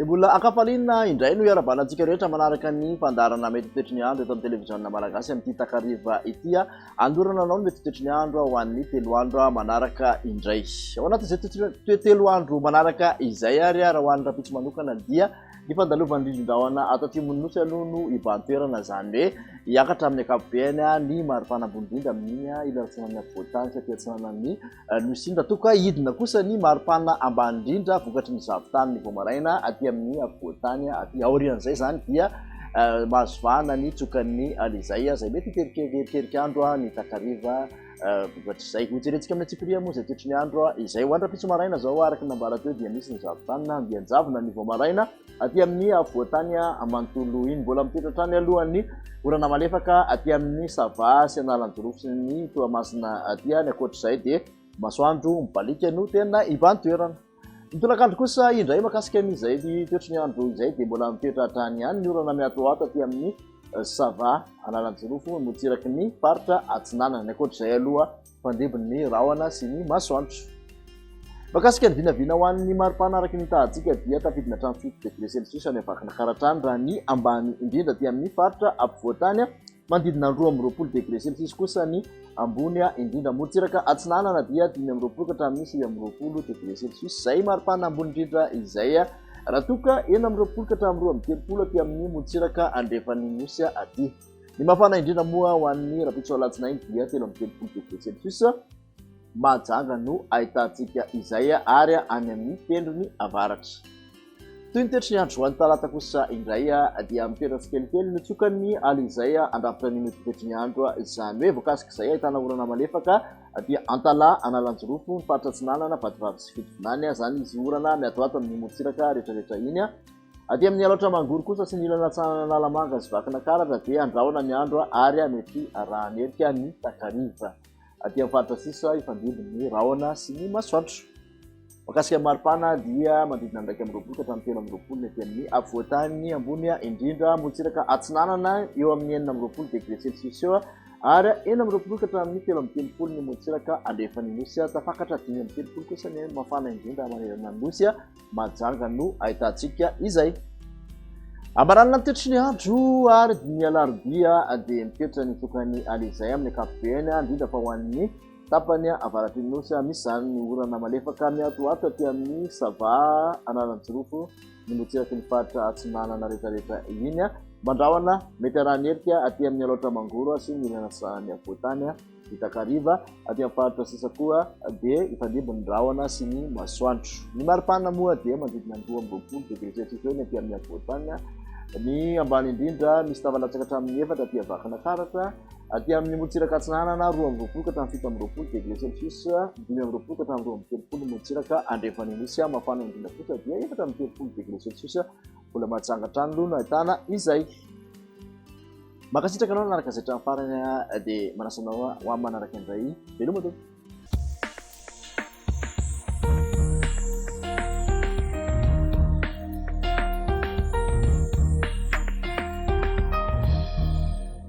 Dia mbola ankafaliana indray no iarabana antsika rehetra manaraka ny fandarana mety toetry ny andro eto amin'ny televiziona malagasy amin'ity takariva ity a andorana anao ny mety toetry ny andro ho an'ny telo andro manaraka indray ao anatin'izay toetry telo andro manaraka izay ary raha ho an'ny rahampitso manokana dia Ny fandalovan'ny ririndrahona ato atsimon'ny Nosy aloha no hibahan-toerana, izany hoe hiakatra amin'ny ankapobeny ny maripana ambony indrindra amin'iny ilany atsinanan'ny afovoan-tany sy aty atsinanan'ny Nosy iny. Raha toa ka hidina kosa ny maripana ambany indrindra vokatry ny zavon-tany ny vao maraina aty amin'ny afovoan-tany aty aorian'izay izany dia mahazo vahana ny tsokan'ny Alizay izay mety hiteritery heriandro ny takariva. Ohatr'izay, hojerentsika amin'ny antsipiriha moa izay toetry ny andro izay ho any rahampitso maraina izao araka ny nambara teo dia misy ny zavon-tany na andian-javona ny vao maraina aty amin'ny afovoan-tany manontolo iny. Mbola mitoetra hatrany aloha ny orana malefaka aty amin'ny Sava sy Analanjirofo sy ny Toamasina aty any. Ankoatr'izay dia masoandro mibaliaka no tena iban-toerana. Ny tolakandro kosa indray makasika an'izay toetry ny andro izay dia mbola mitoetra hatrany ihany ny orana miatoato aty amin'ny eh, Sava Analanjirofo motsiraky ny faritra Atsinanana. Ny ankoatr'izay aloha fandebony ny rahona sy ny masoandro. Makasika ny vinavina ho an'ny maripana araka ny tahantsika dia tafidina hatramin'ny fito degré celsius any Vakinankaratra any raha ny ambany indrindra aty amin'ny faritra ampovoantany Manodidina ny roa amby roapolo degre celsius kosa ny ambony indrindra. Morontsiraka atsinanana dia dimy amby roapolo ka hatramin'ny sivy amby roapolo degre celsius izay maripana ambony indrindra izay, raha toa ka enina amby roapolo ka hatramin'ny roa amby telopolo aty amin'ny morontsiraka andrefan'ny Nosy aty. Ny mafana indrindra moa ho an'ny rahampitso alatsinainy dia telo amby telopolo degre celsius. Mahajanga no ahitantsika izay ary any amin'ny tendrony avaratra. Toy ny toetry ny andro any Talata kosa indray dia mitoetra tsikelikely nitsoka ny alina izay handrafitra ny mety ho toetry ny andro. Izany hoe voakasik'izay ahitana orana malefaka dia Antalaha, Analanjirofo, ny faritra Atsinanana, Vatovavy sy Fitovinany. Izany izy orana mihatohato amin'ny morontsiraka rehetrarehetra iny. Aty amin'ny Alaotra Mangoro kosa sy ny ilany atsinanana Analamanga sy Vakinakaratra dia handrahona ny andro ary mety harahan'erika ny takariva. aty amin'ny faritra sisa hifandimby ny rahona sy ny masoandro. Makasika ny maripana dia mandridina ny iraika amby roapolo ka hatramin'ny telo amby roapolo ny aty amin'ny afovoantany ambony indrindra morontsiraka atsinanana eo amin'ny enina amby roapolo degré celsius eo ary enina amby roapolo ka hatramin'ny telo amby telopolo ny morontsiraka andrefan'ny nosy tafakatra dimy amby telopolo kosa ny mafana indrindra manerana ny nosy majanga no ahitantsika izay. Ambaran'ny antitry ny andro ary ny alarobia dia mitoetra ny tokany alizay amin'ny ankapobeny, indrindra fa ho an'ny tapany avaratry ny nosy. Misy izany ny orana malefaka miatoato aty amin'ny Sava, Analanjirofo, ny motsiraky ny faritra atsinanana rehetrarehetra iny. Mandrahona mety harany herika aty amin'ny Alaotra Mangoro sy ny ilany antsinanan'ny afovoan-tany. Ny takariva, aty amin'ny faritra sisa koa dia hifandimby ny rahona sy ny masoandro. Ny maripana moa dia manodidina ny roa amby roapolo degre celsius eo ny aty amin'ny afovoan-tany. Ny ambany indrindra, misy tava latsaka hatramin'ny efatra aty avakina taratra. Aty amin'ny morontsiraka atsinanana, roa amby roapolo ka hatramin'ny fito amby roapolo degre celsius, dimy amby roapolo ka hatramin'ny roa amby telopolo ny morontsiraka andrefan'ny nosy. Mafana indrindra kosa dia efatra amby telopolo degre celsius, mbola mahatsanga hatrany aloha no ahitana izay. Mankasitraka anao nanaraka izay hatramin'ny farany dia manasa anao ho amin'ny manaraka indray. Veloma tompoko.